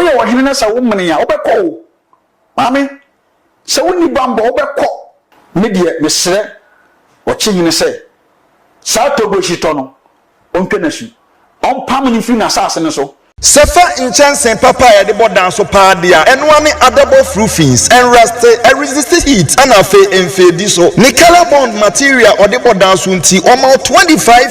Woyɛ ɔhene na sɛ womene a, wobɛkɔ o. Maame, sɛ wonni bammɔ a, wobɛkɔ. Me deɛ, mesrɛ ɔkyehene sɛ, saa Togo-Shitɔ no, ɔntwa no asu. Ɔmpam no mfiri n'asase no so. Sɛ fa nkyɛnsee papa a yɛde bɔ dan so paa de a, ɛno ara ne adabɔf roofings, ɛnrɛste, ɛresiste heat, ɛna afei mfeedi so. Ne color bond material a ɔde bɔ dan so nti, wɔma wo twenty five.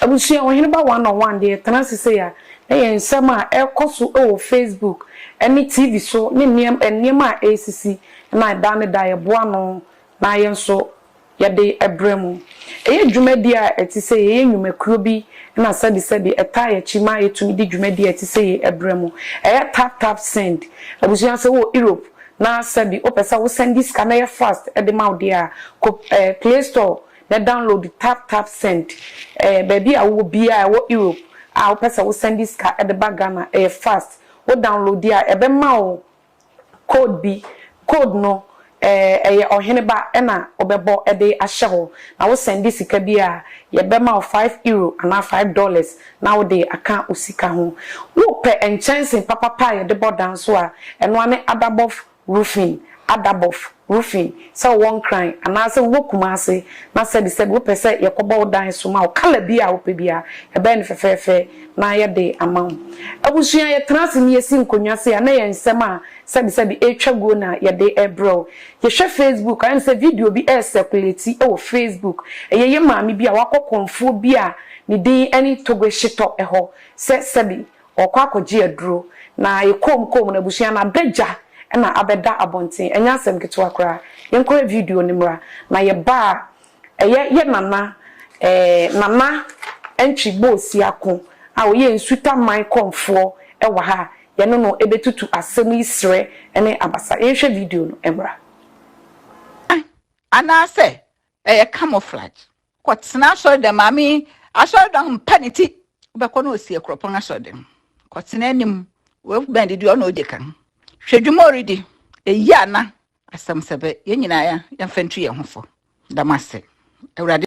Abusua Ɔheneba One on One deɛ ɛtena ase sei a, na ɛyɛ nsɛm a ɛrekɔ so wɔ Facebook ne TV so ne nneɛma nneɛma a ɛresisi na da ne da yɛboa ano na yɛn nso yɛde brɛ mu. Ɛyɛ dwumadi a ɛte sɛ yei, ɛyɛ nnwumakuo bi na sɛbesɛbe ɛtaa yɛ akyi ma yɛtumi de dwumadi a ɛte sɛ yei brɛ mu. Ɛyɛ tap tap send. Abusua sɛ wowɔ Europe na sɛbe wopɛ sɛ wo sɛnde sika na ɛyɛ fast de ma wo deɛ a, kɔ ɛɛ Play Store Na download tap tap send ɛyɛ baabi a wowɔ biaa ɛwɔ Europe a wopɛ sɛ wo sɛnde sika de ba Ghana ɛyɛ fast wo download di a ɛbɛma wo code bi code no ɛyɛ ɔhene ba ɛna wobɛbɔ de ahyɛ hɔ na wo sɛnde sika bi a yɛbɛma wo five euro anaa five dollars na wode aka wo sika ho wopɛ nkyɛnse papapa a yɛde bɔ dan nso a ɛnoa ne adabɔfo roofing, adabɔf, roofing, sɛ wowɔ Nkran anaasɛ wowɔ Kumase na sɛbi sɛbi wopɛ sɛ yɛkɔbɔ wo dan so ma wo, colour bi a wopɛ biara, yɛbɛyɛ no fɛfɛɛfɛ na yɛde ama wo. Abusua, yɛtena ase na yɛsi nkonnwa sei a, na ɛyɛ nsɛm a sɛbi sɛbi ɛretwa guo na yɛde rebrɛ wo. Yɛhwɛ Facebook, ayɛ no sɛ video bi recirculate wɔ Facebook, ɛyɛ yɛn maame bi a wakɔ kɔmfoɔ bi a ne din ne Togoe Shitɔ hɔ sɛ sɛbi Wɔkɔ akɔgye aduro na ayɛ koom koom na abusua no abɛ gya na abɛda abɔnten. Ɛnyɛ asɛm ketewa koraa. Yɛnkɔhwɛ video no mmra. Na yɛba a, ɛyɛ yɛ nana eh, Nana Antwi Boosi Ako a ɔyɛ Nsutaman Kɔmfoɔ wɔ ha a yɛne no bɛtutu asɛm yi Serɛ ne Abasa. Yɛnhwɛ video no mmra. Anaasɛ ɛyɛ camouflage? kɔtena asɔredan maame asɔredan mpa ne ti wobɛkɔ na ɔsi akuropɔn asɔredan kɔtena anim wobɛn didi ɔna ɔdi kan hwɛ dwuma ɔredi ɛyi ana asɛm sɛ bɛ yɛn nyinaa yɛmfa ntu yɛn ho fo dam ase awurade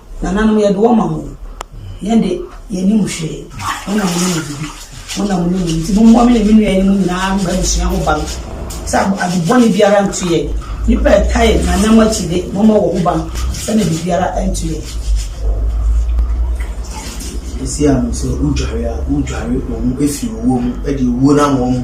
Nananom yɛde wɔn ma mo. Yɛn de yɛne mu hwee. Wɔn na mo ne mu bibi. Wɔn na mo ne mu nti mo mmoa me ne me nua no nyinaa mma abusua ho ban. Sɛ adebɔne biara nto yɛn. Nnipa a ɛtaa yɛn nanam akyi de mo mma wɔn ho ban sɛnea biribiara nto yɛn. Esi ano sɛ wodware a, wodware wɔn fi owuo mu de owuo no ama wɔn.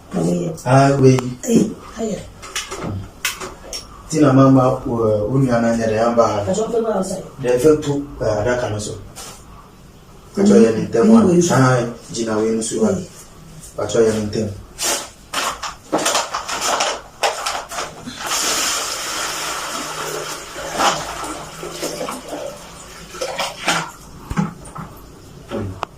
Tina mama wo nua no anyɛ dɛ amba ha dɛ fatu adaka no so patɔ yɛ ne ntɛm a gyina wei no so a patɔ yɛ ne ntɛm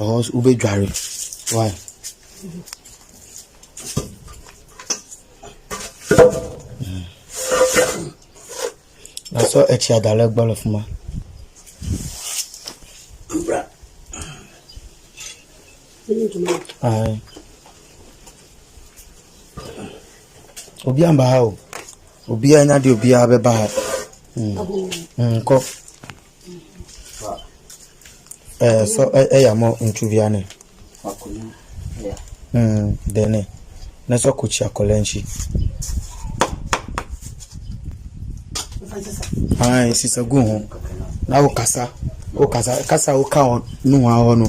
Ɛhɔ nso wobɛdware. Why? Na sɔ akyi adalɛ gbɔlɔ fuma. Ayi. Obi amba ha o. Obi anya de obi abɛba ha. Mm. Mm, kɔ. Ɛɛ sɔ ɛya mo ntwuvia ne. Mm, dene. Na sɔ ko chia kolenchi. Ai, sisa gu ho. Na wo kasa. Wo kasa, kasa wo ka ho no ho aho no.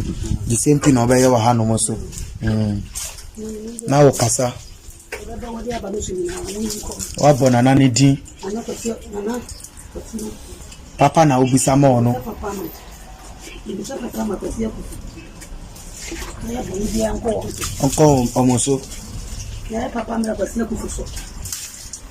The same thing obeye wa ha no mo so. Mm. Na wo kasa. Wabɔ Nana no din. Papa na wobisa ma ɔno. Ɔnkɔ wɔn so.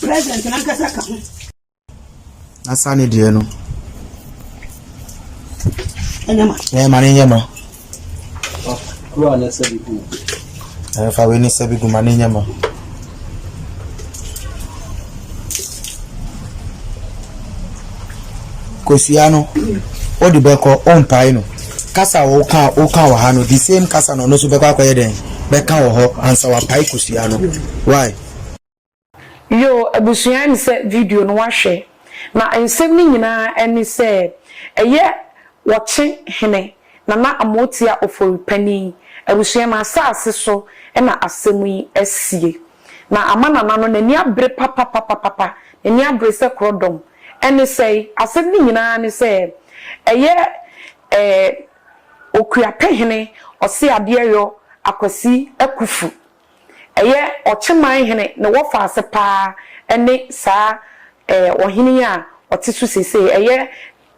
President no ankasa ka ho. Asa ne deɛ no. Ɛnyɛ ma. Ɛnyɛ ma ne nyɛ ma. Kuro a ne sɛ bi gu. Ɛfa wei ne sɛ bi gu ma ne nyɛ ma. Kosua no, o de bɛkɔ o mpae no. Kasa a woka woka wɔ ha no, the same kasa na ɔno nso bɛkɔ akɔyɛ dɛn bɛka wɔ hɔ ansa wapae kosua no. Why? Yoo abusua ɛne sɛ video no wahwɛ na nsɛm no nyinaa ɛne sɛ ɛyɛ wɔkye hene nana amoatia ofori panin abusua na asaase so na asɛm yi asie na ama nana no nani abere papapapapa nani abere sɛ korɔdɔm ɛne sɛi asɛm no nyinaa ne sɛ ɛyɛ ɛɛ okuapehene ɔseadeɛyɔ akwasi akufu. Ɛyɛ ɔkyeman hene ne wɔfa ase paa ne saa ɔhene yi a ɔte so seesei, ɛyɛ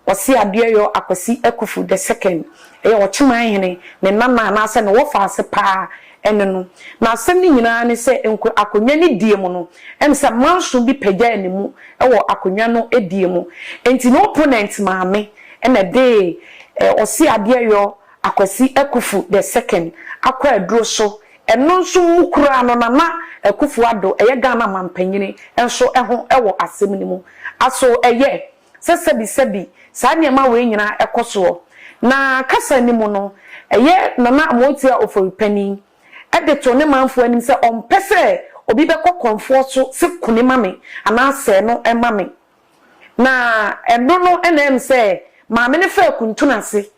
Ɔse Adeɛyɔ Akwasi Akufu the second. Ɛyɛ ɔkyeman hene, ne nana anaasɛ ne wɔfa ase paa ne no. Na asɛm no nyinaa ne sɛ nko akonnwa no die mu no, ɛne sɛ manso bi pagyaa ne mu wɔ akonnwa no die mu. Enti ne opponent maame na ɛde Ɔse Adeɛyɔ Akwasi Akufu the second akɔ aduro so Ɛno nso mu koraa no Nana Akuffo Addo, ɛyɛ Ghana Mampanyini, nso ho wɔ asɛm no mu. Aso ɛyɛ sɛ sɛbisɛbi saa nneɛma wei nyinaa kɔ soɔ? Na kasa no mu no, ɛyɛ Nana Amoatua Ofori Panin de too ne manfoɔ anim sɛ ɔmpɛ sɛ obi bɛkɔ kɔmfoɔ so se kone ma me anaa sɛɛ no ma me. Na ɛno no na ɛm sɛ Maame no faa kuntunu ase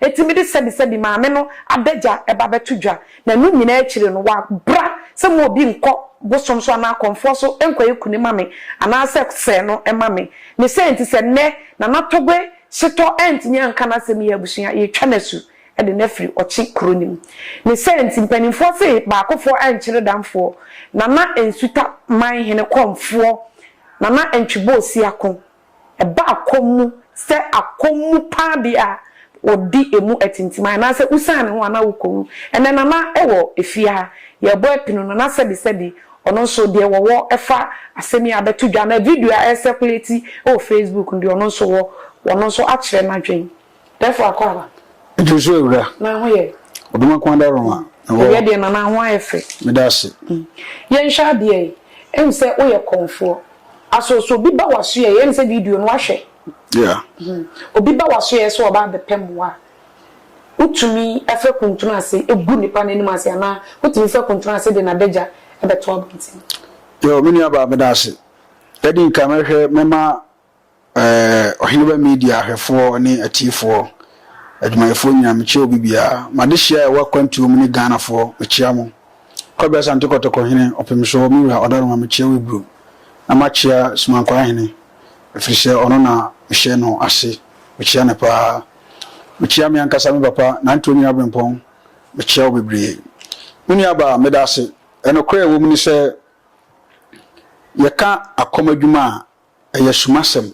Enti mede sɛbisɛbi maame no adagya ba bɛto dwa, na ɛno nyinaa akyiri no, wabra sɛ mo obi nkɔ bosom so anaa akɔmfoɔ so nkɔyɛ kunu mma me anaa sɛ sɛɛ no mma me. Ne saa nti, sɛ nnɛ Nana Togbe setɔ antumi anka n'asɛm yie a, abusua, yɛretwa no asu de no afiri Ɔkye kuro no mu. Ne saa nti, mpanimfoɔ se baakofoɔ ankyere damfoɔ, Nana Nsuta man hene kɔmfoɔ, Nana Ntweboosi Ako. ɛbaa kɔm mu sɛ akɔm mu paa bi a wɔdi ɛmu atintiman anaasɛ wosian ne ho anaa wokɔ mu. Ɛnnɛ Nana wɔ efie ha, yɛrebɔ apini no na sɛbi sɛbi ɔno nso deɛ wɔwɔ ɛfa asɛm yi a bɛto dwa anaa video a ɛrecirculate wɔ Facebook no deɛ ɔno nso wɔ, ɔno nso akyerɛ n'adwene. Dɛfo akɔ aba. Ɛduru so awura. Na ho yɛ. Ɔdom ako ada rɔn a. Awia deɛ na na ho ayɛ fɛ. Meda ase. Yɛnhwɛ adeɛ yi. Ɛm sɛ woyɛ kɔmfoɔ. Aso so obi ba wasoɛ yi ɛm sɛ video no wahwɛ. Yeah. Obi ba wasoɛ sɛ ɔba abɛpɛ mmoa a. Wotumi fa kuntunu ase gu nipa no anim ase anaa wotumi fa kuntunu ase de n'adagya bɛto abɔnten. Yo, me nua baa meda ase. Ɛdi nka mɛhwɛ mɛma Eh, Ɔheneba Media hwɛfoɔ ne atiefoɔ, adwumayɛfoɔ nyinaa, mekyia obi biara. M'adehyeɛ a ɛwɔ akwantuo mu ne Ghanafoɔ, mekyia mo. Kwabena Asante Kɔtɔkɔ hene, ɔpemsoɔ, me wura Ɔdaroma, mekyia wo Ibro. Na makyia Sumankwaa hene, ɛfiri sɛ ɔno na mehyɛ no ase, mekyia no paa. Mekyia me ankasa me papa, Nantwi Onyini Abrempɔn, mekyia wo bebree. Me nuabaa, meda ase. Ɛnokorɛ a ɛwɔ mu ne sɛ, yɛka akɔm adwuma a, Ɛyɛ sumasɛm.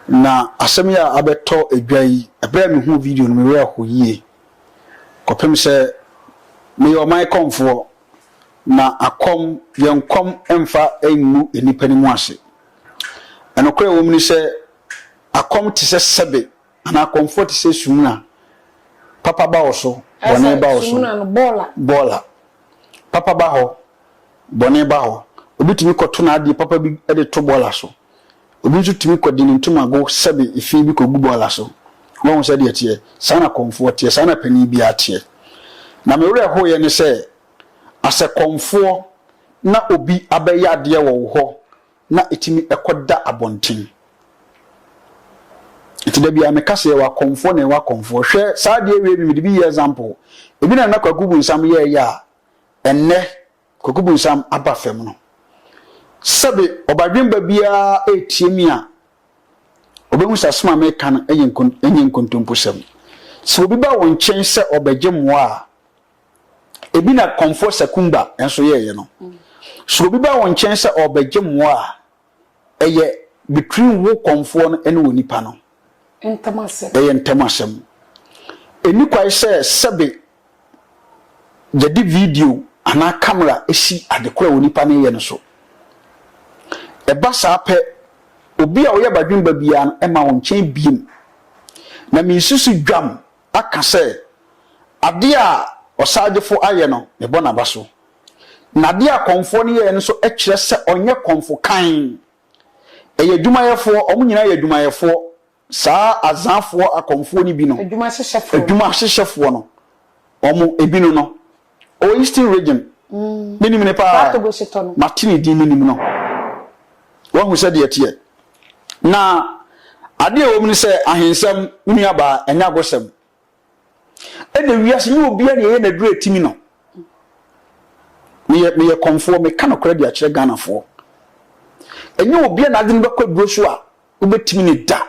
Na asɛm yi a abɛtɔ dwa yi, bere a mihuu video no, me werɛ how yiye kɔpem sɛ meyɛ ɔman kɔmfoɔ, na akɔm, yɛn kɔm mfa ngu nnipa no mu ase. Nokorɛ a ɛwɔ mu ne sɛ, akɔm te sɛ sɛbe Anaa akɔmfoɔ te sɛ sumina. Papa ba wo so, bɔne ba wo so. Bɔɔl a. Papa ba hɔ, bɔne ba hɔ. Obi tumi kɔto n'adeɛ papa bi de to bɔɔla so. Obi nso tumi kɔde ne ntomago sɛbe fi bi kɔgu bɔɔla so. Woahu sɛdeɛ ɛteɛ? Saa na kɔmfoɔ teɛ, saa na panin biara teɛ. Na me werɛ hoeɛ ne sɛ, asɛ kɔmfoɔ na obi abɛyɛ adeɛ wɔ wo hɔ na ɛtumi kɔ da abɔnten. Nti da biara meka sɛ yɛwɔ akɔmfoɔ na yɛwɔ akɔmfoɔ. Hwɛ saa adeɛ wei bi mede bi yɛ example. Ebi na na Kwaku Bunsam yɛɛyɛ a ɛnnɛ Kwaku Bunsam aba fam no. Sɛbe ɔbadwemba biara ɛretie me a ɔbɛhu sɛ asɛm a meka no ɛnyɛ nkontomposɛm. Sɛ obi ba wo nkyɛn sɛ ɔbɛgye mmoa a Ebi na Kɔmfoɔ Sakumba nso yɛeɛ no. Sɛ obi ba wo nkyɛn sɛ ɔrebɛgye mmoa a, ɛyɛ between wo Kɔmfoɔ no ne onipa no. Ntam asɛm. Ɛyɛ ntam asɛm. Ɛnni kwae sɛ sɛbe yɛde video anaa kamera si ade koro a onipa no reyɛ no so. Ɛba saa pɛ, obi a ɔyɛ badwemba biara no mma wo nkyɛn biem. Na mensi so dwam aka sɛ, Adeɛ a ɔsagyefo ayɛ no, mebɔ n'aba so, na adeɛ a kɔmfoɔ no yɛeɛ no nso kyerɛ sɛ ɔnyɛ kɔmfo kann. Ɛyɛ adwumayɛfoɔ, wɔn nyinaa yɛ adwumayɛfoɔ, saa Azanfoɔ akɔmfoɔ no bi no, adwuma hyehyɛfoɔ no, wɔn ebinom no, ɔwɔ eastern region me nim ne paa mate ne din me nim no wahu sɛ deɛ teɛ na adeɛ ɛwɔ mu ne sɛ ahensɛm me nua baa ɛnyɛ agosɛm ɛna wiase nyɛ obiara na ɛyɛ n'aduru atimi no meyɛ meyɛ kɔmfoɔ meka nokorɛ de akyerɛ ghanafoɔ ɛnyɛ obiara na adwene bɛkɔ aduro so a wobɛtumi ne da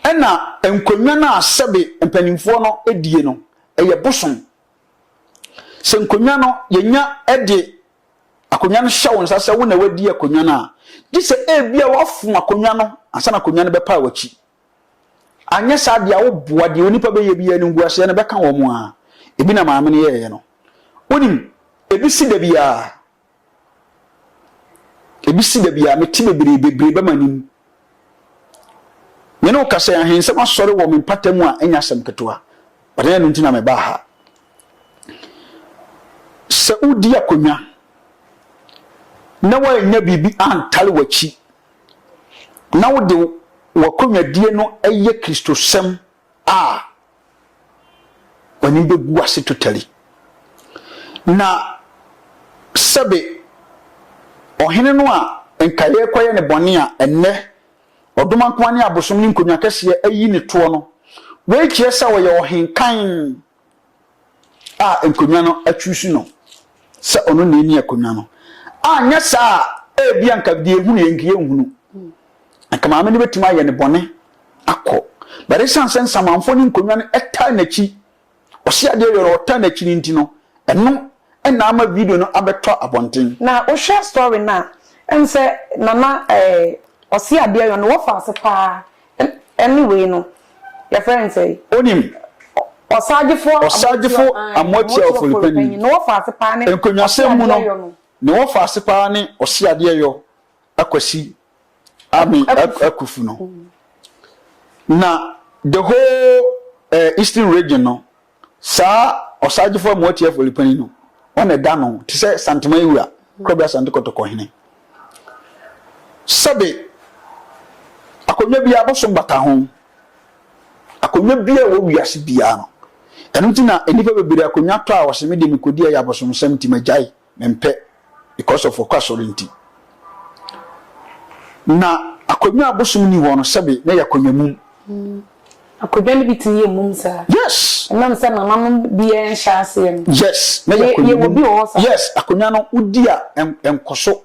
ɛna nkonnwa no a sɛbe mpanimfoɔ no die no ɛyɛ bosom. Sɛ nkonnwa no yɛnya de akonnwa no hyɛ wo nsa sɛ wo na wadi akonnwa no a, gye sɛ ebia woafom akonnwa no ansa na akonnwa no bɛpaa w'akyi. Anyɛ saa deɛ a, woboa deɛ onipa bɛyɛ bi animguaseɛ no bɛka wɔn a ebi na maame no yɛeɛ no. Wonim, ebi si da biara, Ebi si da bi a mete bebree bebree bɛma nim. Me ne wo kasa ahensɛm asɔre wɔ me mpata mu a ɛnyɛ asɛm ketewa. Ɔdan ɛno nti na mebaa ha. Sɛ wodi akonnwa na woannya biribi antale w'akyi na wode w'akonnwadie no yɛ Kristosɛm a w'anim bɛgu ase totally. Na sɛbe ɔhene no a nka yɛrekɔyɛ ne bɔne a ɛnnɛ ɔdomankoa ne abosom ne nkonnwa kɛseɛ ayi ne toɔ no, wei kyerɛ sɛ ɔyɛ ɔhenkann. a nkonnwa no atwusu no sɛ ɔno na ɛni akonnwa no. Anyɛ saa a, ebia nka deɛ ɛhunu yɛ nka yɛnhunu. Nka maame no bɛtumi ayɛ ne bɔne akɔ. But ɛsiane sɛ nsamanfoɔ ne nkonnwa no ɛtaa n'akyi, ɔse adeɛ yɛ no ɔtaa n'akyi no nti no, ɛno ɛna ama video no abɛtɔ abɔnten. Na wohwɛ story no a, ɛne sɛ Nana ɛɛ Ɔseadeɛyɔ no wɔfa ase paa Ɛ ne wei no, yɛfrɛ no sɛn? Onim. Ɔsaagyefo Ɔsaagyefo Amoatia Oforipanyin. Ne wɔfaase paa ne Nkonnwasɛm mu no, ne wɔfaase paa ne Ɔseadeɛyɔ Akwasi Ame Akufu no. Na the whole eh, Eastern Region no, Saa ɔsaagyefo amu ɔteɛfo Lipani no, wɔn na ɛda no te sɛ Santeman wura, Korabea Sante Kɔtɔkɔ hene. Sɛbe akonnwa biara abosom bata ho, akonnwa biara wɔ wiase biara no, ɛno nti na nnipa bebree akonnwa tɔ a wɔse me de mekodi ɛyɛ abosomsɛm nti magyae. mempɛ because of ɔkɔ asɔre nti. Na akonnwa a bosom nni hɔ no, sɛbe na ɛyɛ akonnwa mum. Akonnwa no bi tumi yɛ mum saa. Yes. Ɛnam sɛ nananom biara nhyɛ aseɛ no. Yes, na ɛyɛ akonnwa mum. Yɛwɔ bi wɔ hɔ saa. Yes, akonnwa no wodi a ɛnkɔ so.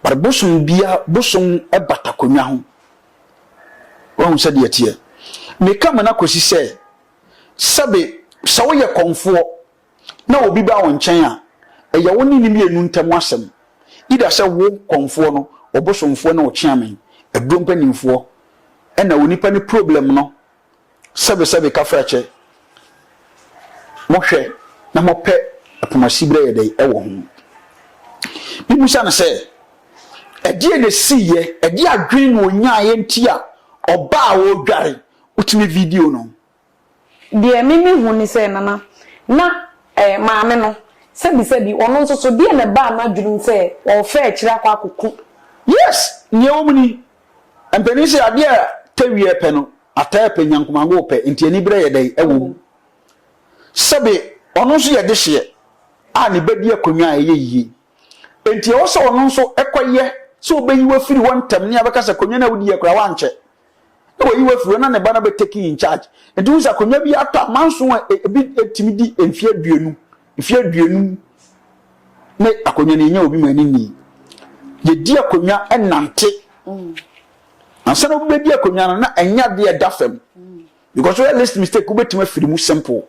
But bosom biara, bosom bata akonnwa ho. Wahu sɛdeɛ ɛteɛ? Meka mu no akɔsi sɛ, sɛbe sɛ woyɛ kɔmfoɔ na obi ba wo nkyɛn a, ɛyɛ wo ne ne mmienu ntam asɛm, either sɛ wo, kɔmfoɔ no, wo bosomfoɔ ne wo kyeame, aduro mpanimfoɔ, ɛna onipa ne problem no, sɛbesɛbe kafrakyɛ, mohwɛ na mopɛ poma siberɛ yɛ dɛn ɛwɔ ho. Mebisa no sɛ, ɛdeɛ na ɛsiiɛ, ɛdeɛ adwene na ɔnyaeɛ nti a ɔbaa a ɔredware, wotumi video no. Deɛ me me hu ne sɛ Nana, na eh, maame no, sɛbi sɛbi, ɔno nso so, deɛ na ɛbaa n'adwene mu sɛ ɔɔfɛ akyire akɔ akɔku. Yes, neɛ ɛwɔ mu ni. Mpanin se adeɛ a tɛwieɛ pɛ no, ataa pɛ, nyankomango pɛ, nti aniberɛ yɛ dɛn ɛwɔ mu. Sɛbe ɔno nso yɛ dehyeɛ a ne bɛdi akonnwa a ɛyɛ yie, nti ɛwɔ sɛ ɔno nso ɛkɔyɛ sɛ ɔbɛyi wo afiri hɔ ntɛm ne abɛka sɛ akonnwa no a wodiiɛ koraa woankyɛ. na wayi wo afiri hɔ na ne ba no bɛ taking in charge nti wo sɛ akonnwa bi atɔ a manso a e, ebi etimi di mfie aduonu mfie aduonum ne akonnwa no yɛnya obi ma ani nni yɛdi akonnwa ɛnante ansa na wobɛdi akonnwa no na ɛnyɛ adeɛ ɛda fam because woyɛ list mistake wobɛtumi afiri mu simple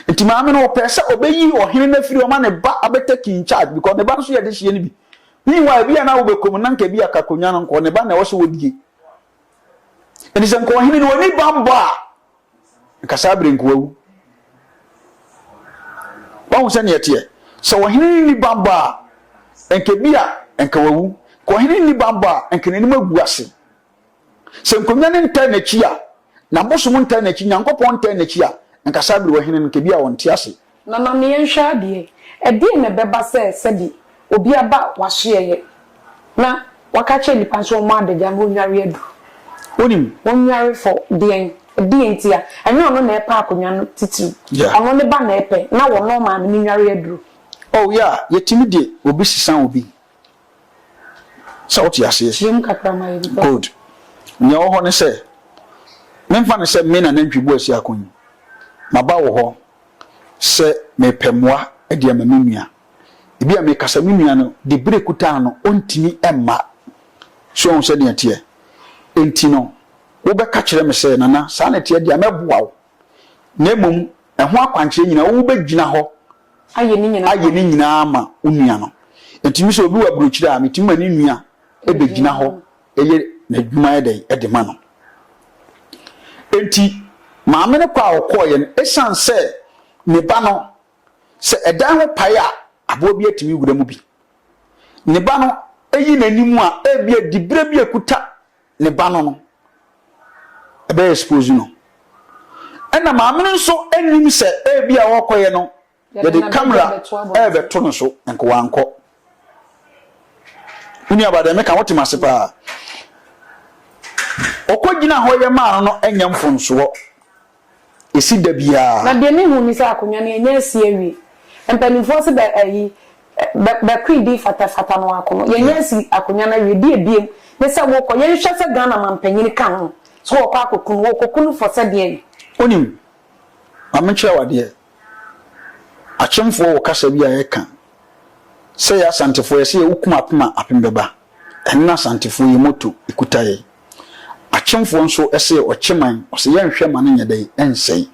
nti maame no ɔpɛ sɛ ɔbɛyi ɔhene no afiri ɔma ne ba abɛtake in charge because ne ba no so yɛde hyeɛ no bi meanwhile bi a na wobɛkɔm na nka bi akakonnwa no nkɔ ne ba na ɛwɔ sɛ wɔdie Enti sɛ nka ɔhene no wani bammɔ a, nka saa bere nka wawu. Wahu sɛ neɛ teɛ. Sɛ ɔhene no ni bammɔ a, nka bi a nka wawu. Ka ɔhene no ni bammɔ a, nka n'anim agu ase. Sɛ nkonnwa no ntaa n'akyi a, na bosom ntaa n'akyi, Nyankopɔn ntaa n'akyi a, nka saa bere ɔhene no nka bi a ɔnte ase. Na ma me yɛnhwɛ adeɛ, ɛdeɛn na ɛbɛba sɛ sɛdeɛ obi aba w'asoɛeɛ, na waka akyerɛ nnipa sɛ wɔmmɔ adagya na ɔnnware aduru? Wonim, ɔnnware for deɛn? Ɛdeɛn ntia? Ɛnyɛ ɔno na ɛpɛ akonnwa no titiriw. Yeah. Ɔno ne ba na ɛpɛ, na wɔnnɔ ɔmaa no ne nnware aduru. Oh, yeah, yɛtumi de obi sesa obi. Sɛ wote aseɛ? Good. Nea ɛwɔ hɔ ne sɛ, memfa no sɛ me na nantwibuo a ɛsi ako yi. Maba wo hɔ sɛ mepɛ mmoa de ama me nua. Ebia mekasa me nua no de bere kutaa no ɔntumi mma. So woahu sɛdeɛ ɛteɛ? Enti no, wobɛka kyerɛ me sɛ, Nana, saa na ɛteɛ deɛ a, mɛboa wo. na mmom ɛho akwankyerɛ nyinaa wobɛgyina hɔ ayɛ ne nyinaa ama wo nua no. Enti me sɛ obi wɔ aburokyire a, metumi ma ne nua bɛgyina hɔ yɛ n'adwuma yɛ dɛn de ma no. Enti maame no kɔ a ɔkɔeɛ no, ɛsiane sɛ ne ba no, sɛ ɛdan ho pae a aboa bi atumi wura mu bi. Ne ba no yi n'anim a ebia diberɛ bi a ɛkuta ne ba no no ɛbɛyɛ expose no ɛna maame no nso nim sɛ ebi a ɔkɔyɛ no yɛde camera ɛrebɛto no so nkowa nkɔ wuni abadɛ meka wote ma se paa ɔkɔ gyina hɔ yɛ maa no no anya mfonsoɔ ɛsi da biara. Na deɛ mehu ne sɛ akonwa no yɛnnya asi awie. Mpaninfoɔ se bɛ ayi bɛ bɛ kri di fata fata no ako no yɛnnya asi akonwa no awie. Deɛ ebiem ne sɛ wo kɔ yɛnhwɛ sɛ Ghana manpanyini ka ho so wɔkɔ akɔku no wɔkɔku no fɔ sɛ deɛn. Wonim, ma menkyerɛ wo adeɛ. Akyemfoɔ wɔ kasa bi a yɛka sɛ yɛ Asantefoɔ yɛse yɛ wokum apem a apem bɛba. Ɛno ne Asantefoɔ yɛ motto, ɛkuta yɛn. Akyemfoɔ nso se yɛ ɔkye man, ɔse yɛnhwɛ ma no nyɛ dɛn, ɛnsɛe.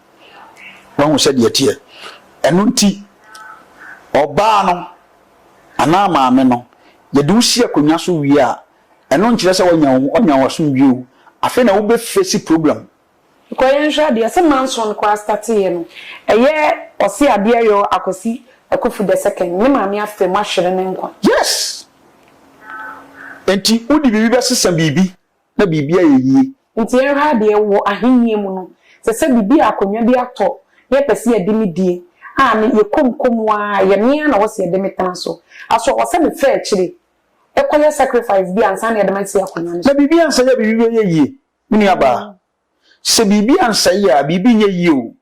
Woahu sɛdeɛ ɛteɛ? Ɛno nti ɔbaa no anaa maame no yɛde wo si akonnwa so wie a, ɛno nkyerɛ sɛ wanya wo ho, wanya wo asomdwie o. Afei na wobɛ face problem Nkɔ yɛ nhwɛ adeɛ sɛ manso no koraa starte yɛ no ɛyɛ ɔse adeɛ yɔɔ akwasi akufu the second ne maame afam ahwere ne nkwa. Yes nti wode biribi bɛsesa biribi na biribi ayɛ yie. Nti yɛ nhwɛ adeɛ wɔ ahennie mu no sɛ sɛ biribi a akonwa bi atɔ na yɛ pɛse yɛ de me die a ne yɛ kɔ mu kɔ mu a yɛ me ara na wɔ se yɛ de me tena so aso wɔ sɛ me fɛ akyire kɔ yɛ sacrifice bi ansa na yɛ de me asi akonwa no so. Na biribi ansa yɛ biribi bɛyɛ yie Me nuabaa, sɛ biribi ansɛe a, biribi nyɛ yie o.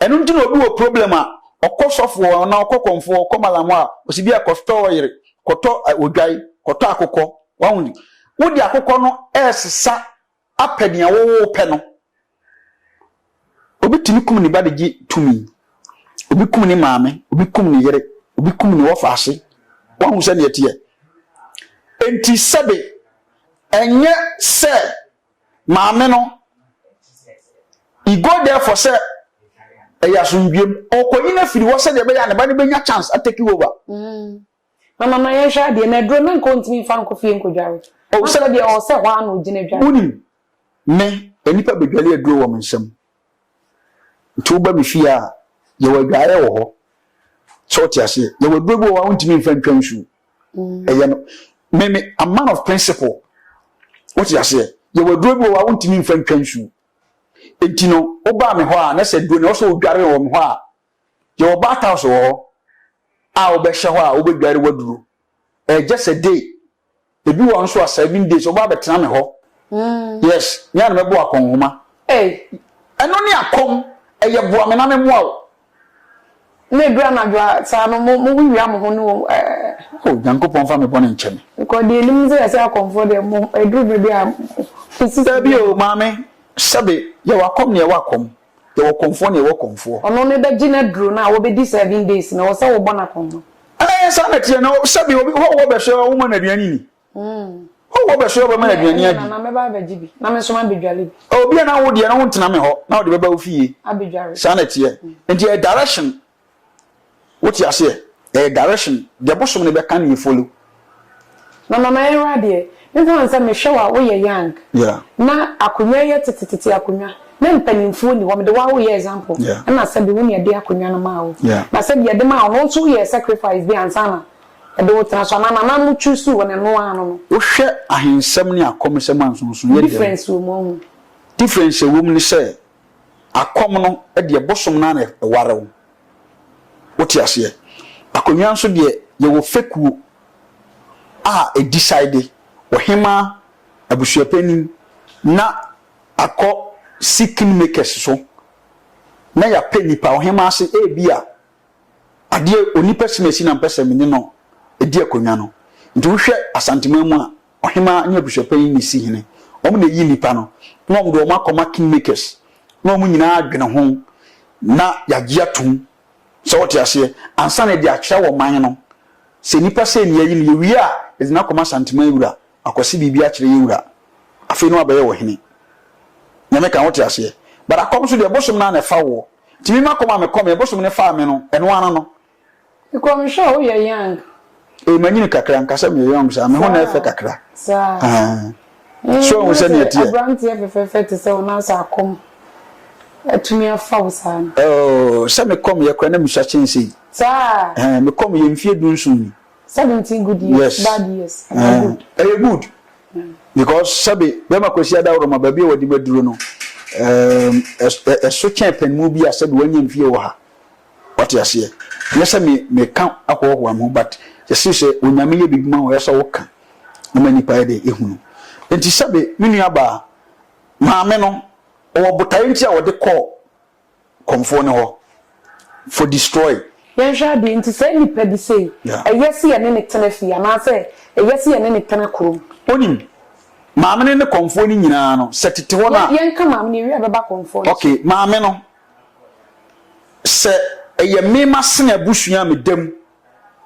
Ɛno nti na obi wɔ problem a, ɔkɔ sɔfo hɔ anaa ɔkɔ kɔmfo hɔ, ɔkɔ malam hɔ a, ɔsi bi a kɔtɔ ɔyere, kɔtɔ odwan, kɔtɔ akokɔ. Wahu? Wode akokɔ no ɛresesa apɛ nea wɔwɔ pɛ no. Obi tumi kum ne ba de gye tumi. Obi kum ne maame, obi kum ne yere, obi kum ne wɔfaase. Wahu sɛ neɛ teɛ. Enti sɛbe ɛnyɛ sɛ maame no i go there for sɛ ɛyɛ asomdwuem. Ɔkɔyi no afiri hɔ sɛdeɛ ɛbɛyɛ a ne ba no bɛnya chance atake over. Mm. Na mama yɛnhwɛ adeɛ na aduro na nka ɔntumi mfa nkɔ fie nkɔdware. Ɔwusɔrɔ deɛ ɔwɔ sɛ hɔ ara na ɔgyina dware. Wonim, me, nnipa bɛdwale aduro wɔ me nsam. Nti woba me fie a, yɛwɔ adwaeɛ wɔ hɔ. Sɛ wote aseɛ? Yɛwɔ aduro bi wɔ hɔ a wontumi mfa ntwa nsuo. Ɛyɛ no, me, me, I'm man of principle. Wote aseɛ? Yɛwɔ aduro bi wɔ hɔ a wontumi mfa ntwa nsuo. Nti no, wobaa me hɔ a, na sɛ aduro no ɛwɔ sɛ wodware wɔ me hɔ a, Yɛwɔ bath house wɔ hɔ a wobɛhyɛ hɔ a wobɛdware w'aduro. Ɛyɛ just a day. Ebi wɔ hɔ nso a seven days wobɛba abɛtena me hɔ. Yes, me a na mɛbɔ akɔnhoma. Ɛno ne akɔm, ɛyɛ boa me na memmoa wo. Na ɛduru anadwo a, saa no mowia mo ho ne wɔn ɛɛ. O Nyankopɔn mfa me bɔne nkyɛ me. Because deɛ ɛnim sɛ yɛsɛ akɔmfoɔ deɛ mo ɛduru berɛ bi a mo sisi. Dabi o, maame, sɛbe, yɛwɔ akɔm na yɛwɔ akɔm. Yɛwɔ kɔmfoɔ na yɛwɔ kɔmfoɔ. Ɔno no bɛgye no aduro no a wɔbɛdi seven days no ɛwɔ sɛ wobɔ no akɔnhɔ. Ɛɛ saa na ɛteɛ na sɛbi obi hɔ wɔ bɛhwɛ a woma no aduane nni. Hɔ wɔ bɛhwɛ a wobɛma no aduane adi. Ɛnna mɛba abɛgye bi na me nso mabɛdware bi. Obi a na wo deɛ no wontena me hɔ na wode bɛba wo fie. Abɛdware. Saa na ɛteɛ. Nti ɛyɛ direction Wote aseɛ? Ɛyɛ direction. Deɛ bosom no bɛka no yɛ follow. Na mama yɛnwura adeɛ. Me nko ansɛ mehwɛ wo a woyɛ young. Yeah. Na akonwa yɛ tetetete akonwa. Na mpaninfoɔ ni hɔ. Mede wo ara wo yɛ example. Yeah. Ɛna sɛbi wo na yɛde akonwa no maa wo. Yeah. Na sɛbi yɛde maa wo no wo nso wo yɛɛ sacrifice bi ansa na yɛde wo tena so anaa nana mo choose wo no ɛno ara no no. Wohwɛ ahensɛm ne akɔmesɛm a nsonsonoeɛ dɛm. Difference wɔ mu ɔho. Difference a ɛwɔ mu ne sɛ Akɔm no deɛ bosom no ara na ɛware wo. Wote aseɛ? Akonnwa nso deɛ, yɛwɔ fekuo a ɛdisaede, ɔhemaa, abusuapanin, na akɔ si kingmakers so, na yɛapɛ nnipa. Ɔhemaa se, Ebia adeɛ, onipa si na ɛsi na mpɛ sɛ me ne no di akonnwa no. Nti wohwɛ Asanteman mu a, ɔhemaa nye abusuapanyin na esi hene, wɔn na eyi nnipa no, na wɔn de wɔn akɔma kingmakers, na wɔn nyinaa adwene ho, na yɛagye atum, sɛ wote aseɛ, ansa na yɛde akyerɛ wɔ man no, sɛ nnipa sei na yɛayi no, yɛwie a, yɛde no akɔma Santeman wura, akwasi biribi akyerɛ yɛn wura, afei na wabɛyɛ ɔhene. Nyame ka, wote aseɛ? But akɔm nso deɛ, bosom no ara na ɛfa woɔ. Nti me m'akɔm a mekɔmee, bosom no faa me no, ɛno ara no. Nkɔmhyɛ a woyɛ young. Ee manyini kakra nka sɛ meyɛ young saa me ho na ɛfɛ kakra aah so ahu sɛnea ɛteɛ. Abranteɛ fɛfɛɛfɛ te sɛ wo na sɛ akɔm atumi afa wo saa no. Ooh sɛ me kɔm yɛ koraa na mesua kyɛn sei. Saa. Ɛɛ me kɔm yɛ mfie du nson ni. Seventeen good years. Yes. Bad years. Ɛyɛ good. Ɛyɛ good. Because sɛbe bɛma Kwasi Adaworoma baabi a wɔde me aduro no ɛɛm ɛso kyɛn pɛn mu bi a sɛbe wɔnyɛ mfie wɔ ha. Wate aseɛ? Nyɛ sɛ me, meka ahoahoa me ho, but yɛse sɛ Onyame yɛ biribi ma wo, ɛyɛ sɛ woka na ma nnipa yɛ dɛ? Ehunu. Enti sɛbe me nua baa, maame no, ɔwɔ botaeɛ nti a wɔde kɔɔ kɔmfoɔ no hɔ for destroy. Yɛnhwɛ adeɛ, enti saa nnipa bi sei, ɛyɛ se yɛne no tena fie, anaasɛ ɛyɛ se yɛne no tena kurom? Onim. Maame no ne kɔmfoɔ no nyinaa no, sɛ tete hɔ no a. Yɛnka maame no, yɛwie a bɛba kɔmfoɔ no so. Okay, maame no, Sɛ ɛyɛ me m'asene abusua a meda mu,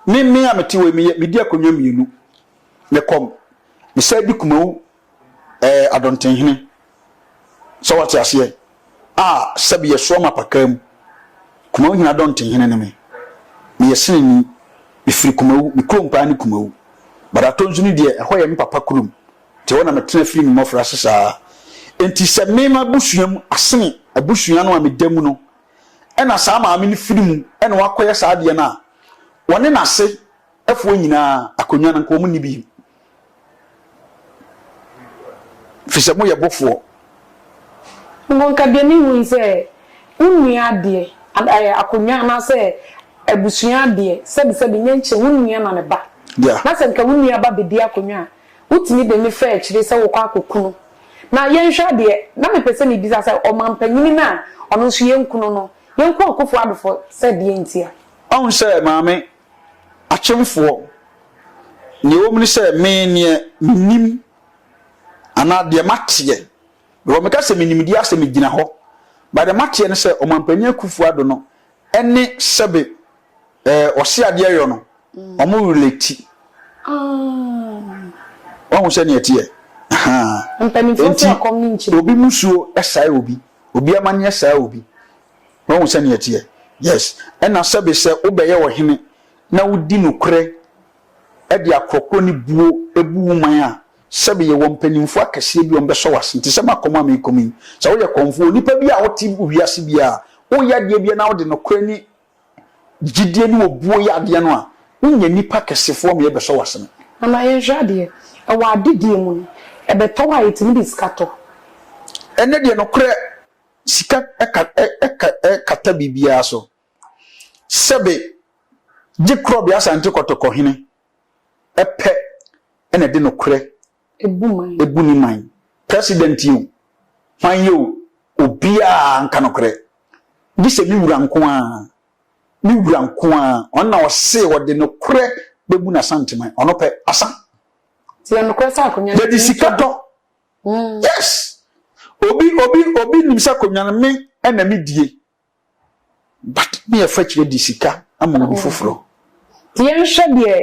me me a mete hɔ yi, meyɛ medi akonnwa mmienu. Mekɔ, mesan di Kumau ɛɛ Adɔntenhene. Sɛ wate aseɛ? A sɛbi yɛsoa ma pakaa mu. Kumau hene Adɔntenhene ne me. Meyɛ seneni. Mefiri Kumau. Me kurom paa ne Kumau. But Atonsu no deɛ, ɛhɔ yɛ me papa kurom. Te hɔ na metena fii me mmɔfraase saa. Enti sɛ me m'abusua mu asene abusua no a meda mu no na saa maame no firi mu na wakɔyɛ saa adeɛ no a, wɔne n'ase foɔ nyinaa akonnwa no nka wɔn nni bi. Firi sɛ moyɛ bofoɔ. Nkonka deɛ me hu ne sɛ wo nua adeɛ ɛɛ akonnwa anaasɛ abusua adeɛ sɛbi sɛbi nyɛ nkyɛ wo nua na ne ba. Yeah. Na sɛ nka wo nua ba bedi akonnwa a. Wotumi de me faa akyire sɛ wɔkɔ akɔkunu. Na yɛnhwɛ adeɛ, na mepɛ sɛ mebisa sɛ ɔmampanyini no a ɔno nso yɛnkunu no, yɛnkɔ Akufo Addo fo sɛ deɛn ntia? Ɔhu sɛ Maame, Akyemfoɔ, deɛ ɛwɔ mu ne sɛ me deɛ mennim anaa deɛ mateɛ, because meka sɛ menimdeɛ asɛ megyina hɔ, but deɛ mateɛ ne sɛ Ɔmampanin Akufo Addo no Ɛne sɛbe eh ɔse adeɛ yɔ no ɔmo relate wahu sɛdeɛ ɛteɛ ahaa enti obi musuo sae obi obi amaneɛ sae obi wahu sɛdeɛ ɛteɛ yes ɛna sɛbe sɛ wobɛyɛ ɔhene na wodi nokorɛ de akorɔkorɔ ne buo bu wo man a Sɛbe yɛwɔ mpanyimfo akɛseɛ bi a wɔbɛsɔ w'asen, te sɛ m'akɔm a merekɔm yi. Sɛ woyɛ kɔmfoɔ, onipa bi a ɔte wiase biara a, woyɛ adeɛ biara na wode nokorɛ ne gyidie ne obuo yɛ adeɛ no a, wonya nnipa akɛsefoɔ ma yɛbɛsɔ w'asen. Na ma yɛnhwɛ adeɛ. Ɛwɔ adedie mu no, ɛbɛtɔ hɔ a yɛtumi de sika tɔ. Ɛnnɛ deɛ nokorɛ, sika ka ɛ ka ɛ kata biribiara so. Sɛbe gye Krɔbe Asante Kɔtɔkɔhene. pɛ na ɛde nokorɛ bu ne man. President yi o, hwan yi o, obiara nka nokorɛ, gye sɛ me Wura nko ara, me Wura nko ara, ɔno na ɔse ɔde nokorɛ bɛbu n'Asanteman, ɔno pɛ, asa. Yɛde sika tɔ, yes, obi, obi, obi nim sɛ akonnwa no me na medie. But ne yɛ fa kyerɛ de sika ama obi foforɔ. Nti yɛn hwɛ deɛ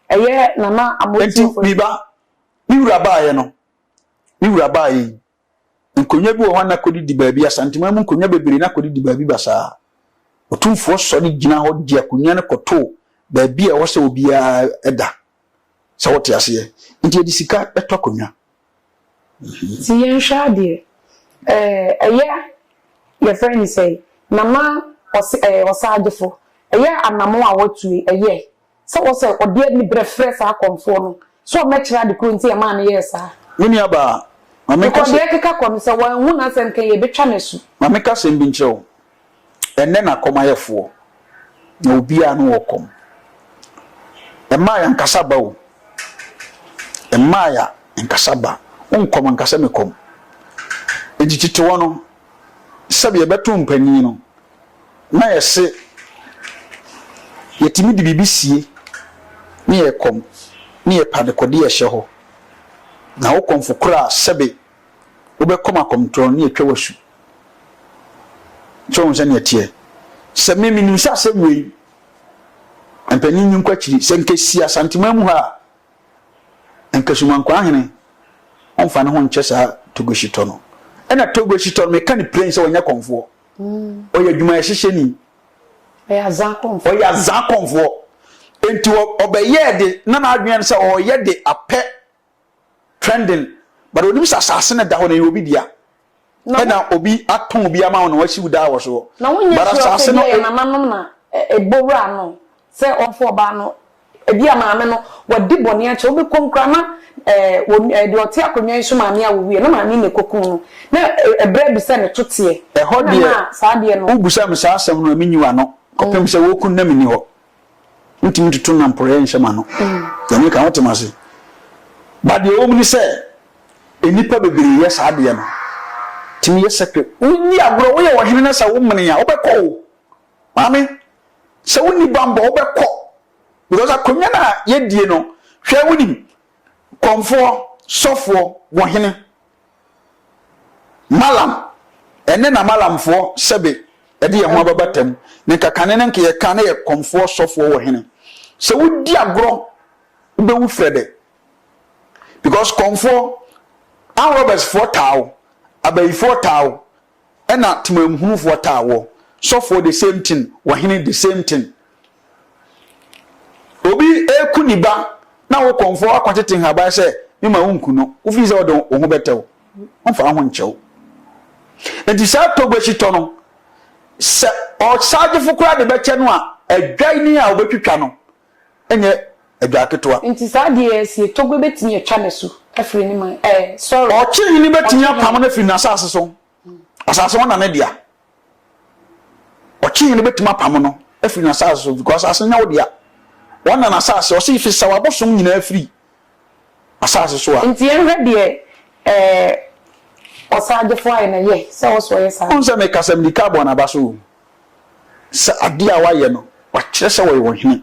ɛyɛ Nana Amotie fo. Nti me ba, me wura baayɛ no, me wura baayɛ yi, nkonwa bi wɔ hɔ a na kɔdi di baabi, Asanteman mu nkonwa bebree na kɔdi di baabi basaa. Otumfoɔ sɔre gyina hɔ de akonwa no kɔto baabi a ɛwɔ sɛ obiara da. Sɛ wote aseɛ? Nti yɛde sika tɔ akonwa. Nti yɛnhwɛ adeɛ. Ɛɛ ɛyɛ yɛfrɛ no sɛn, Nana ɔse ɛɛ ɔsagyefo, ɛyɛ anamon a watue, ɛyɛ sɛ wɔ sɛ ɔde anibrɛ frɛ saa akɔmfoɔ no sɛ ɔmɛkyerɛ ade korɔ nti ɛmaa no yɛɛ saa. Me nua baa, ma menka sɛ. Because deɛ ɛkeka kɔ no sɛ wanhu n'asɛm kan yɛbɛtwa no asu. Ma menka asɛm bi nkyerɛ wo. ɛnnɛ na kɔm ayɛ foɔ na obiara ano wɔ kɔm. Mmaa ya nkasa ba o. Mmaa ya nkasa ba. Wo nkɔm nkasa me kɔm. Nti titewɔ no sɛbi yɛbɛto mpanin no na yɛse yɛtumi de biribi sie ne yɛ kɔm ne yɛ pa de kɔde yɛhyɛ hɔ. Na wo kɔmfo koraa sɛbi wobɛkɔm akɔmtorɔ ne atwa wasu so hu sɛnea ɛteɛ sɛ me menim sɛ asɛm wei mpanin nyi nkɔ akyiri sɛ nkɛsi asantema mu ha a nkasumankwa ahene ɔmfa ne ho nkyɛ saa togo hyetɔ no ɛna togo hyetɔ no meka ne plain sɛ ɔnyɛ kɔmfoɔ mm. ɔyɛ adwumayɛ hyehyɛni ɔyɛ azaa kɔmfoɔ nti ɔbɛyɛɛ de na n'adwene sɛ ɔyɛ de apɛ trending but onim sɛ asase no da hɔ no ɛyɛ obi dea ɛna obi atɔn bi ama wo na wasi wo daa wɔ soɔ na wonyɛ but sure sɛ asase no ebia yɛ nananom na ɛ- ɛbɔ wura no sɛ ɔmfa ɔbaa no ebia maame no wadi bɔne akyɛ wobɛkɔ mu koraa na ɛɛ wɔ ɛɛ deɛ ɔte akonnwa yi so maame a wɔwuiɛ na maame na ɛkɔkum no na ɛ- ɛbrɛ abi sɛ ne to teɛ ɛhɔ na deɛ ɛma saa adeɛ no wobisa me saa asɛm no a menyi w'ano kɔpem sɛ wɔku no na menni hɔ Wontumi ntoto nam porɔeɛ nhyɛ m'ano. Deɛ meka wote me ase. Ba deɛ ɛwɔ mu ne sɛ, nnipa bebree yɛ saa adeɛ no. Tumi yɛ sɛ pɛ. Wodi agorɔ, woyɛ ɔhene na sɛ womene a, wobɛkɔ o. Maame, sɛ wonni bammɔ, wobɛkɔ. Because akonnwa no a yɛdie no, hwɛ wonim, kɔmfoɔ, sɔfoɔ, bohene. Malam, ɛne na Malamfoɔ, sɛbe, ɛde yɛn ho ababa tam, ne nka kane no nka yɛ ka na yɛ kɔmfoɔ sɔfoɔ wɔ hene. Sɛ wo di agorɔ, wo bɛ wu frɛdɛ. Because kɔmfoɔ, armed robbers foɔ taa wo, abayifoɔ taa wo, ɛna temanmuhunufoɔ taa wɔ sɔfoɔ the same thing ɔhene the same thing obi eku ne ba na wo kɔnfoɔ akɔtete nhaban sɛ mema wo nku no wofiri sɛ ɔde wo ho bɛtɛ wo ɔmfa ho nkyɛ wo nti saa togbo ahyitɔ no sɛ ɔsagyefo koraa de bɛkyɛ no a adwan ni a wɔbɛtwitwa no nyɛ adwaa ketewa. Nti saa adeɛ yi asie, Togo bɛtumi atwa no asu afiri ne man, ɛɛ, sorry. Ɔkye hene bɛtumi apamo no afiri n'asaase so, asaase no na ne dea. Ɔkye hene bɛtumi apamo no afiri n'asaase so, because asaase no nyɛ wo dea. Wɔn na n'asaase, ɔse fi sa w'abosom nyinaa firi asaase so a. Nti yɛnhwɛ deɛ, ɛɛ, ɔsaa gyefoɔ ayɛ na yɛ sɛ ɔso ɔyɛ saa. Wohu sɛ meka sɛ mede car bɔɔ n'aba so o, sɛ adeɛ a wɔayɛ no, wɔakyerɛ sɛ wɔyɛ ɔhene.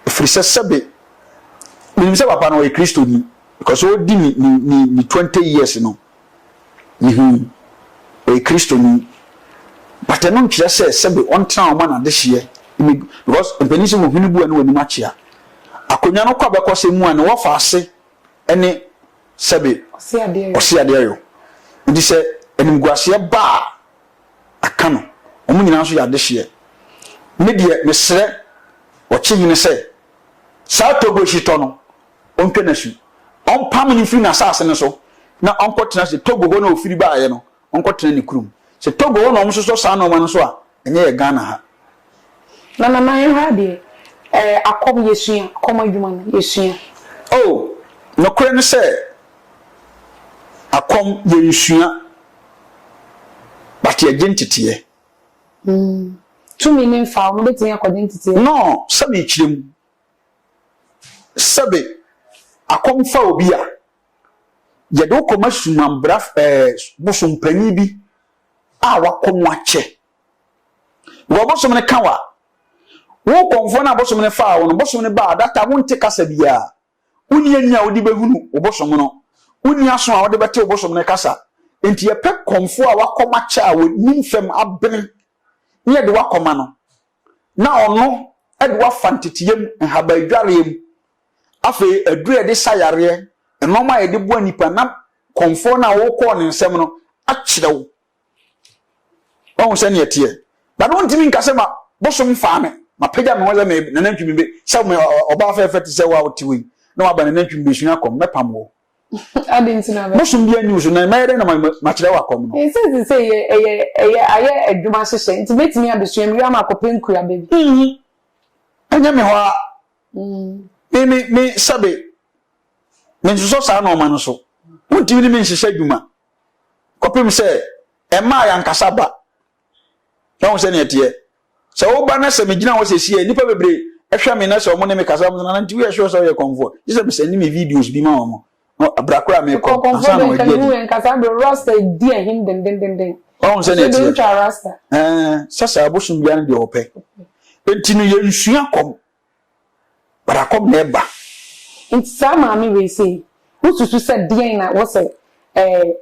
Ɛfiri sɛ sɛbe menim sɛ papa no ɔyɛ Kristoni because ɔredi ne ne ne ne twenty years no mehu ɔyɛ Kristoni but ɛno nkyerɛ sɛ sɛbe ɔntena wɔn ma n'adehyeɛ because mpanin sɛ wɔn hwene bu a ne wɔn anim akyea akonnwa no kɔ abɛkɔ sɛ mu a ne wɔfa ase ne sɛbe ɔse adeɛ yɔ nti sɛ animguaseɛ ba a aka no, wɔn nyinaa nso yɛ adehyeɛ. Me deɛ mesrɛ Ɔkyehene sɛ, saa Togo hyetɔ no, ɔntwa no asu. Ɔmpamo no mfiri n'asaase no so na ɔnkɔtena sɛ Togo hɔ na ɔfiri baeɛ no, ɔnkɔtena ne kurom. Sɛ Togo hɔ na wɔsosɔ saa nnoɔma no so a, ɛnyɛ yɛ Ghana ha. Na Nana yɛn ha deɛ ɛɛ akɔm yɛsua akɔm adwuma no yɛsua. Oh nokorɛ ne sɛ akɔm yɛnsua but yɛgye nteteɛ. Hmm tumi ne mfa wɔn bɛtumi akɔgye nteteɛ. No sɛ mekyerɛ mu sɛbe akɔm fa obi a yɛde wo kɔma sumanbraf ɛɛ bosompanin bi a wakɔm akyɛ. Because bosom no ka wa. Wo kɔmfoɔ no a bosom no faa wo no, bosom no baa data wonte kasa biara. Wonni ani a wode bɛhunu wo bosom no. Wonni aso a wode bɛte wo bosom no kasa. Enti yɛpɛ kɔmfoɔ a wakɔma kyɛ a wɔnim fam abene na yɛde wakɔma no na ɔno de wafa nteteyam, nhabaadwareɛ mu, afei aduro a yɛde sa yareɛ, nnoɔma a yɛde boa nnipa na kɔmfoɔ no a wokɔɔ ne nsam no akyerɛ wo Wahu sɛ neɛ teɛ. But wontumi nka sɛ ma bosom faa me, mapagya me ho sɛ me nanantwi me be sɛ me ɔbaa fɛɛfɛ te sɛ wo a wote wei na waba nanantwi me besua kɔm, mɛpam wo. Ade nti na bɛ. Bosom bi anni wo so na mɛyɛ dɛn na makyerɛ wo akɔm no? Ɛsɛ te sɛ yɛ ɛyɛ ɛyɛ ayɛ adwuma hyehyɛ nti mɛtumi abesua mewie a makɔpɛ nkuaba bi. Mm, ɛnyɛ me hɔ ara. Mm. Me me me sɛbe mensosɔ saa nɔɔma no so. Wontumi ne me nhyehyɛ adwuma. kɔpem sɛ ɛmaa yɛn ankasa ba na wɔn sɛnea ɛteɛ sɛ woba na sɛ megyina hɔ sɛ sie nnipa bebree ɛhwɛ me na sɛ wɔn ne me kasa wɔn nana nti woyɛ sure sɛ woyɛ kɔnfoɔ gye sɛ mesɛn ne me videos bi ma wɔn na abira koraa mekɔ ansa na wɔadi adi nkasa bere rasta di ahim dendendenden wɔn sɛnea ɛteɛ ɛɛ sɛ sɛ abosom biara deɛ wɔpɛ nti no yɛnsua kɔm but akɔb na ɛba. Nti saa maame wei sei wo susu sɛ deɛn na wɔsɛ ɛɛ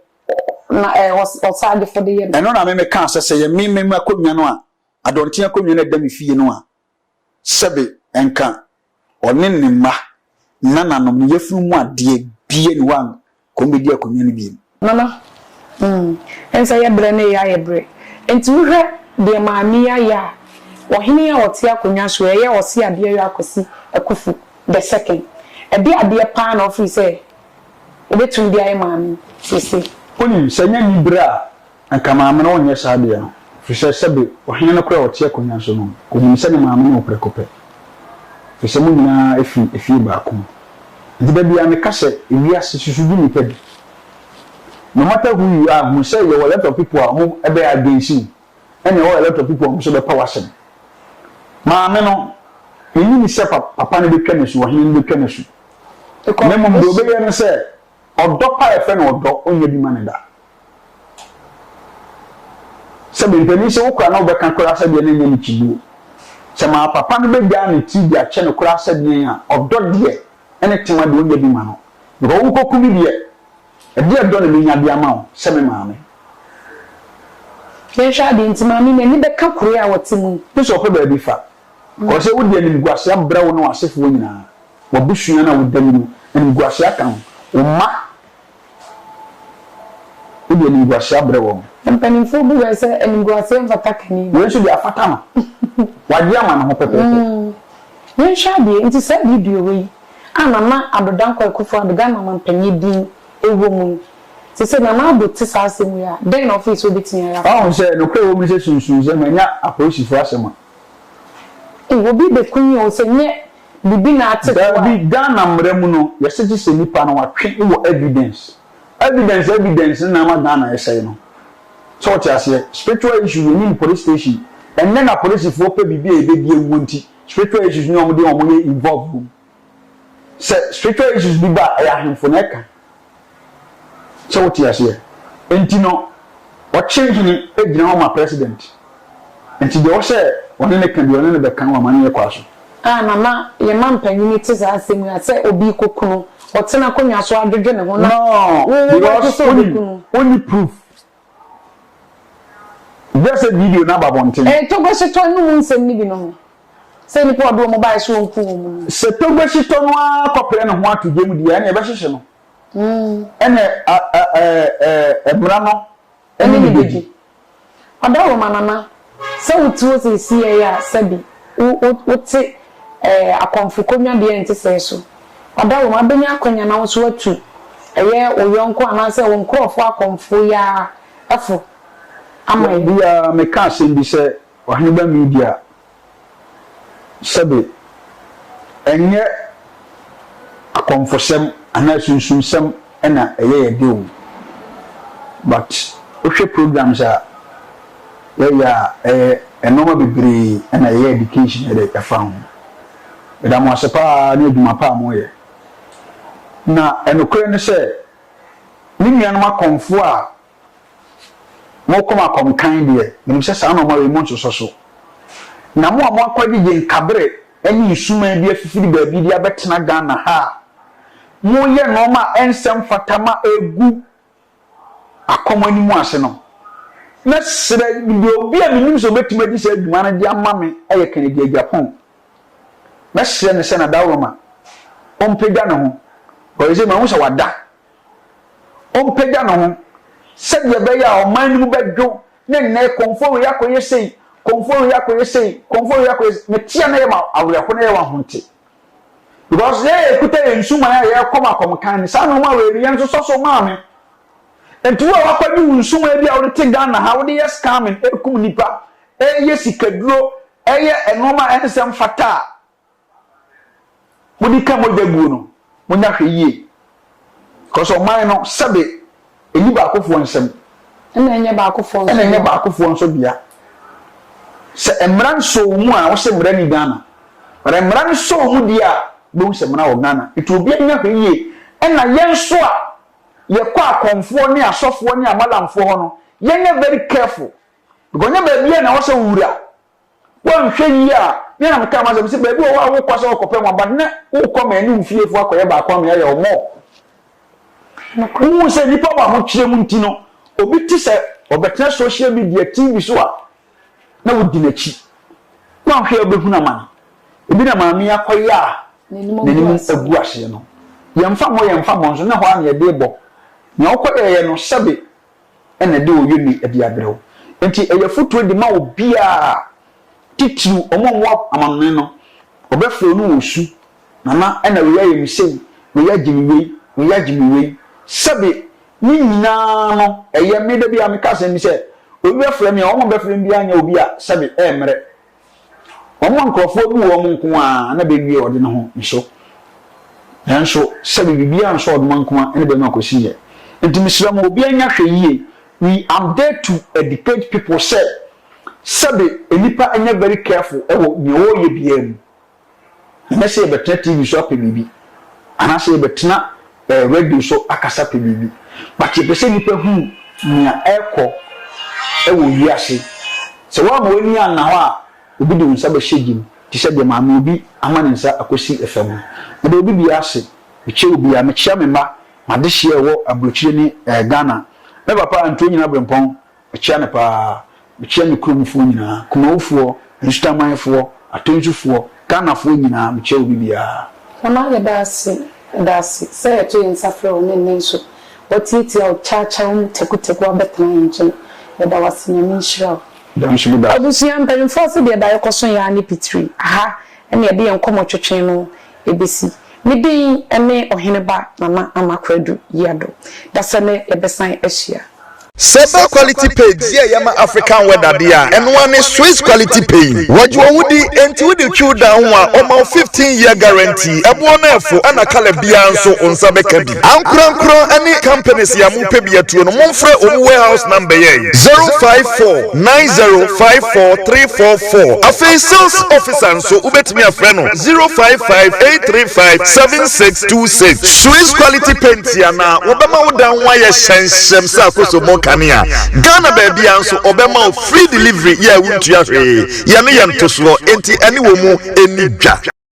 na ɛɛ ɔs ɔsaadefo de yɛ no. Ɛno na me me kaa sɛ sɛ yɛ me me me akonnwa no a adɔnten akonnwa no a ɛda me fie no a sɛbe nka ɔne ne mma nananom no yɛfunu mu adeɛ bie ni hɔ a kɔm bɛdi akonnwa no bio. Nana, mm, ɛnsɛ yɛ berɛ na yei ayɛ berɛ. Enti wohwɛ deɛ Maame yi ayɛ a, ɔhene a ɔte akonnwa soɔ yi, ɛyɛ Ɔse Adeɛyɔ Akwasi Akufu the second. Ɛdeɛ adeɛ paa na ɔfiri sɛ ɔbɛtumi de ayɛ Maame yi seesei. Wonim, sɛ ɛnyɛ anibere a Anka maame no nyɛ saa deɛ no, ɛfiri sɛ sɛbe ɔhene no koraa a ɔte akonnwa so no, ɔnim sɛ ne maame no wɔ prɛko pɛ, ɛfiri sɛ mo nyina ara firi efie baako mu. Enti da biara meka sɛ, Ewiase, susu di nnipa bi. No matter who you are, hunu sɛ yɛwɔ a lot of people a wɔn bɛyɛ against wo, ɛna ɛwɔ a lot of people a wɔn nso bɛpa w'asɛm. Maame no, ɛnni ne sɛ papa no bɛtwa no asu, ɔhene no bɛtwa no asu. Na mmom deɛ ɔbɛyɛ ne sɛ, ɔdɔ pa a yɛfrɛ no ɔdɔ, ɔnnya bi ma no da. Sɛ me mpanin sɛ wo kora na wobɛka kora sɛdeɛ no nyɛ me kyibuo. Sɛ maa papa no bɛgyaa ne tiri de akyɛ no kora sɛdeɛn a ɔdɔ deɛ ɛne tema deɛ ɔnya bi ma no because wo nkɔku me deɛ ɛdeɛ ɛdɔ na mɛnya de ama wo sɛ me maame. Yɛnhwɛ adeɛ nti maame n'ani bɛka koroɛ a ɔte mu yi. Gye sɛ ɔpɛ baabi fa kɔ sɛ wode animguaseɛ abrɛ wo ne w'asefoɔ nyinaa, w'abusua no a woda mu no animguaseɛ aka ho, wo mma Wode animguase abrɛ wɔn. Mpanimfoɔ bu yɛn sɛ animguaseɛ mfata kani no. Wei nso deɛ afata no. Wagye ama ne ho pɛpɛɛpɛ. Yɛnhwɛ adeɛ nti saa video wei a Nana Addo Dankwa Akufo-Addo, Ghana Ɔmampanyin din wɔ mu no. Te sɛ Nana Addo te saa asɛm wei a, dɛn na ɔfees ɔbɛtumi ayɛ afa ho? Woahu sɛ nokorɛ wɔ mu ne sɛ sunsum sɛ manya apolisifo asɛm a, Obi bekunyin o sɛ nyɛ bibi na ate fo a. Daabi Ghana mmara mu no yɛse gye sɛ nipa no watwe wɔ evidence evidence evidence no na ama Ghana ɛsɛe no sɛ wote aseɛ spiritual issues yɛnim police station ɛnnɛ na polisifoɔ pɛ biribi a ɛbɛdi awuo nti spiritual issues ne wɔn deɛ wɔn yɛ involve wɔ mu. sɛ spiritual issues bi ba a ɛyɛ ahemfo na ɛka sɛ wote aseɛ nti no ɔkye hene gyina hɔ ma president nti deɛ ɔsɛ ɔne ne ka deɛ ɔne ne bɛka wɔ amanneɛ kwa so. Ah mama yɛn mampanyini te saa asɛm yi a sɛ obi kɔ kunu ɔtena akonnwa so adwodwo ne ho na wo wo bɛgye sɛ ɔbɛkunu. Noo because wonni proof Brɛ sɛ video no aba abɔnten. Ɛyɛ Togo Hyetɔ no mu nsɛm no binom. Sɛ nnipa a ɔde wɔn baeɛ sɛ ɔnku wɔn no. Sɛ Togo Hyetɔ no ara kɔpere ne ho ato gyam deɛ a, ɛnneɛ ɛbɛhyehye no. Ɛnneɛ a, ɛ, ɛ, ɛ, ɛ, mmara no ne no bɛdi. Ɔda Roma nana Sɛ wote hɔ seesei yi a, sɛbe wo, wote ɛɛ akɔmfo konnyabea a ɛnte sɛɛ so. Ɔda wom, abɛnya akwanya na wo nso woatu ɛyɛ wo yɔnko anaasɛ wo nkorɔfoɔ akɔmfo yi ara ɛfo ama yɛn. Bere bi ara, mekaa asɛm bi sɛ Ɔheneba Media Sɛbe ɛnyɛ akɔmfosɛm anaa sunsumsɛm na ɛyɛ yɛ de o, but wohwɛ programs a yɛyɛ a, ɛyɛ nnoɔma bebree na yɛyɛ education de fa ho. Meda mo ase pa ara ne adwuma pa a moyɛ. Na nokorɛ ne sɛ, me nuanom akɔmfoɔ a Mo koma kɔm kann deɛ, menim sɛ saa nnoɔma wei monsosɔ so. Na mo a moakɔgyegye nkaberɛ ne nsumaa bi afifiri baabi de abɛtena Ghana ha a moyɛ nnoɔma a ɛnsɛ mfata ma ɛgu akɔm anim ase no, mɛsrɛ deɛ obi a menim sɛ ɔbɛtumi adi saa dwuma no de ama me yɛ Kennedy Agyapong. Mɛsrɛ no sɛ Nadaworoma ɔmpagya ne ho, ɔyɛ sɛ mahu sɛ wada. ɔmpagya ne ho sɛdeɛ ɛbɛyɛ a ɔman no mu bɛdwo ne nnɛ kɔmfoɔ wei akɔyɛ sei, kɔmfoɔ wei akɔyɛ sei, kɔmfoɔ wei akɔyɛ sei. Mete a na ɛyɛ ma awerɛho na ɛyɛ ma ahonte. Because yɛn a yɛkuta yɛn nsuman a yɛrekɔ ma kɔmkan no, saa nneɛma wei no yɛn nso sɔ so maa me. Nti wo a wakɔgye wo nsuman bi a wode te Ghana ha, wode yɛ scamming, ɛkum nnipa, ɛyɛ sikaduro, ɛyɛ nneɛma a ɛnsɛ mfata a, mode ka mogya guo no, monya hwɛ yie. Because ɔman no, sɛbe ɛnni baakofoɔ nsam. Ɛna ɛnyɛ baakofoɔ nso dea. Ɛna ɛnyɛ baakofoɔ nso dea. Sɛ mmara nsɔɔ mu a, wose mmara ni Ghana. But mmara no sɔɔ mu deɛ a, wobɛhu sɛ mmara wɔ Ghana. Nti obiara nya hwɛ yie. Ɛna yɛn nso a yɛkɔ akɔmfoɔ ne asɔfoɔ ne amalamfoɔ hɔ no, yɛnyɛ very careful. Because ɛnyɛ baabiara na ɛwɔ sɛ wowura. Woanhwɛ yie a, me ara na mekaa m'asɛm sɛ baabi wɔ hɔ a wokɔ sɛ wokɔpɛ mmoa but na wokɔ ma ɛne wo fiefo akɔyɛ baako ama yɛayɛ ɔmɔ. Wohu sɛ nnipa wɔ ahokyerɛ mu nti no, obi te sɛ ɔbɛtena social media, TV so a, na wodi n'akyi. Woanhwɛ a wobɛhunu amane. Ebi na maame yi akɔyɛ a n'anim agu aseɛ no. Yɛmfa mmɔ yɛmfa mmɔ nso, na ɛhɔ ara na yɛde rebɔ. Nea wokɔyɛeɛ no, sɛbe na ɛde oye ne adi abrɛ wo. Enti ɛyɛ afotuo de ma obiara, titiriw wɔn a wɔwɔ amanɔne no. Wɔbɛfrɛ wo ne wo su, Nana ɛna wei ayɛ me sei, wei agye me wei, wei agye me wei. Sɛbe ne nyinaa no ɛyɛ me da biara meka asɛm bi sɛ, obi bɛfrɛ me a, wɔn a wɔbɛfrɛ me biara nyɛ obi a sɛbe ɛremmrɛ. Wɔn a nkurɔfoɔ bu wɔn nko ara na bɛwie ɔde no ho nso, nanso sɛbe biribiara nsɔ ɔdoma nko ara ne bɛma kɔsiiɛ. Enti mesrɛ mo, obiara nyɛ ahwɛyie. We am there to educate people sɛ, sɛbe nnipa nyɛ very careful wɔ deɛ wɔreyɛ biara mu. Ɛnyɛ sɛ yɛbɛtena TV so apɛ biribi, anaasɛ yɛbɛtena eh, radio so akasa apɛ biribi, but yɛpɛ sɛ nnipa hu nea ɛrekɔ wɔ wiase. Sɛ woama w'ani anna hɔ a, obi de wo nsa bɛhyɛ gye mu, te sɛ deɛ maame obi ama ne nsa akɔsi fam no. Meda obi biara ase, mekyia obi biara, mekyia me mma, m'adehyeɛ a ɛwɔ aburokyire ne eh, Ghana, me papa Antuo Nyina Brempɔn, Mekyea no paa. Mekyea me kurom foɔ nyinaa, Kumau foɔ, Nsutaman foɔ, Atonsu foɔ, Ghana foɔ nyinaa, mekyea obi biara. Mama yɛda ase da ase sɛ yɛto yɛn nsa frɛ wo ne nnɛ nso watiatia wo kyaakyaa mu tɛkutɛku abɛtena yɛn nkyɛn. Yɛda wo ase Nyame nhyira wo. Yɛda nso meda. Abusua mpanyinfoɔ se deɛ daeɛ kɔso yɛ ara ne pitiri, aha ɛna yɛde yɛn nkɔmɔ twetwee no. Ebesi me den ne Ɔhene ba Nana Anakwedu Yiado da sɛ nɛ yɛbɛsan ahyia. Sɛba quality paint yi a ɛyɛ ma African weather deɛ a, ɛno ara ne Swiss quality paint. Wɔgye wo wo di, enti wode twiw dan ho a, wɔma wo fifteen year guarantee. Ɛboɔ no ɛfo, ɛna colour biara nso, wo nsa bɛka bi. Ankorankoro ne companies yi a mo pɛ bi atuo no mo nfrɛ wɔn warehouse number yɛ yi zero five four nine zero five four three four four afei sales officer nso wobɛtumi afrɛ no zero five five eight three five seven six two six. Swiss quality paint yi anaa wɔbɛma wo dan ho ayɛ hyɛmhyɛm sɛ akosommo kanea Ghana baabiara nso wɔbɛma wo free delivery yɛ a wontua hwee yɛn no yɛ ntosoɔ enti ɛne wɔn mu ɛnni dwa.